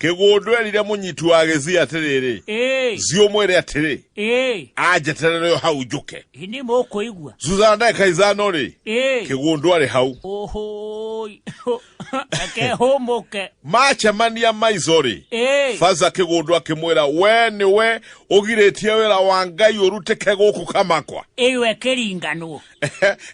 kĩgũndũ erire mũnyiti wa gĩthii atĩrĩrĩ Ĩĩ, thiĩ ũmwĩre atĩrĩ ĩĩ, anjeterere o hau njũke ĩ nĩ mũkũigua thutha wa ndagĩka ithano rĩ Ĩĩ, kĩgũndũ arĩ hau ũhũi akehũmũke macemania maico rĩ Ĩĩ, baza kĩgũndũ akĩmwĩra we nĩwe ũgirĩtie wĩra wa ngai ũrutĩke gũkũ kamakwa ĩyo ĩkĩringanwo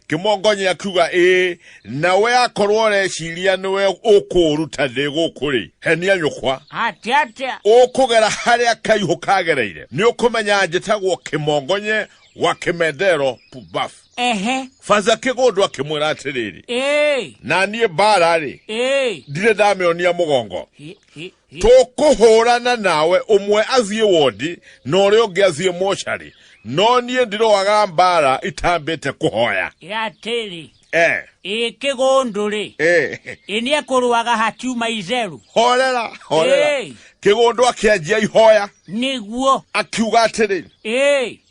kimongonye akiuga ii nawe akorwo ureciria niwe ukuruta thi guku ri henia nyukwa ati atia ukugera haria kaihu kagereire ni ukumenya njitagwo kimongonye wa kimendero pubaf ehe fanza kigundu akimwira atiriri ii na niĩ mbaara-rĩ ii ndirĩ ndameonia mũgongo hi hi tũkũhũrana nawe ũmwe athiĩ wondi na ũrĩa ũngĩ athiĩ mocarĩ no niĩ ndĩroaga mbara itambĩte kũhoya atĩrĩ eh. ĩ kĩgũndũ rĩ eh. ĩ nĩ ekũrũaga hatiuma itheru horera horera kĩgũndũ akĩanjia ihoya nĩguo akiuga atĩrĩ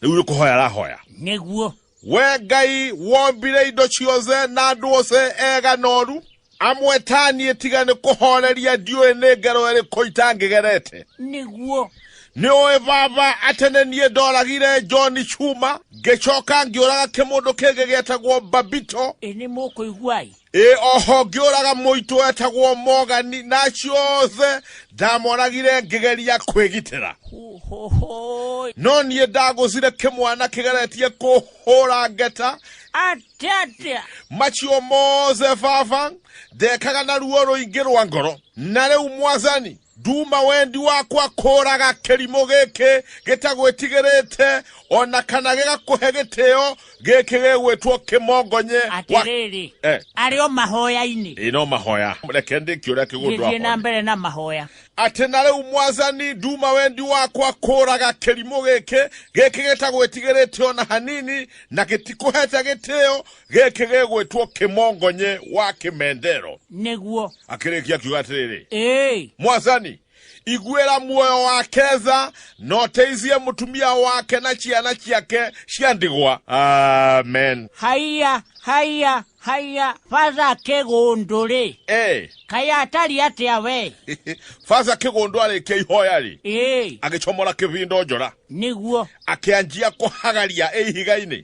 rĩu nĩ kũhoya arahoya nĩguo We Ngai wombire indo ciothe na andũ othe ega noru amwe ta niĩ tiga nĩ kũhoreria ndiũĩ nĩ ngero ĩrĩkũ itangĩgerete nĩguo nĩ ũĩ baba atĩ nĩ niĩ ndoragire john cuma ngĩcoka ngĩũraga kĩmũndũ kĩngĩ gĩetagwo babito ĩ nĩ mũkũiguai ĩ oho ngĩũraga mũitũ wetagwo mogani na acio othe ndamoragire ngĩgeria kwĩgitĩra Hohohoy. no niĩ ndagũcire kĩmwana kĩgeretie kũhũra ngeta Ate atia. macio mothe baba ndekaga na ruo rũingĩ rwa ngoro na rĩu mwathani Nduma wendi wakwa kũraga kĩrimũ gĩkĩ gĩtagwĩtigĩrĩte o na kana gĩgakũhe gĩtĩo gĩkĩ gĩgwĩtwo kĩmongonye wa- atĩrĩrĩ Eh. arĩ o mahoya-inĩ Ĩĩ, no mahoya reke ndĩkie ũrĩa kĩgũndũ gĩthiĩ na akoniĩ. mbere na mahoya atĩ na rĩu mwathani nduma wendi wakwa kũraga kĩrimũ gĩkĩ gĩkĩ gĩtagwĩtigĩrĩte o na hanini na gĩtikũhete gĩtĩo gĩkĩ gĩgwĩtwo kĩmongonye wa kĩmendero nĩguo akĩrĩkia akiuga atĩrĩrĩ ĩĩ mwathani iguĩra muoyo wa ketha na ũteithie mũtumia wake na ciana ciake cia ndigwa amen haiya haiya haiya batha kĩgũndũ-rĩ Ĩ, kaĩ atari atĩa we basa kĩgũndũ arĩkia ihoya-rĩ ĩĩ agĩcomora kĩbindo njora nĩguo akĩanjia kũhagaria ĩ ihiga-inĩ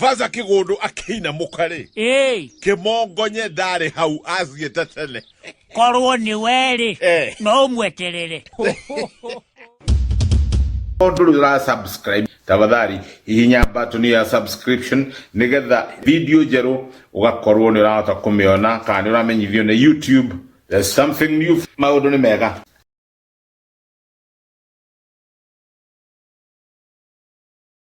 Vaza kigundu akĩinamũka rĩ Ĩĩ, kĩmongonye ndarĩ hau athiĩte tene korwo nĩ werĩ Eh. no ũmweterere ndũrĩ ũra subscribe tafadhali hihinya button ya subscription nigetha video njerũ ũgakorwo nĩ ũrahota kũmĩona kana nĩ ũramenyithio nĩ youtube there's something new maũndũ nĩ mega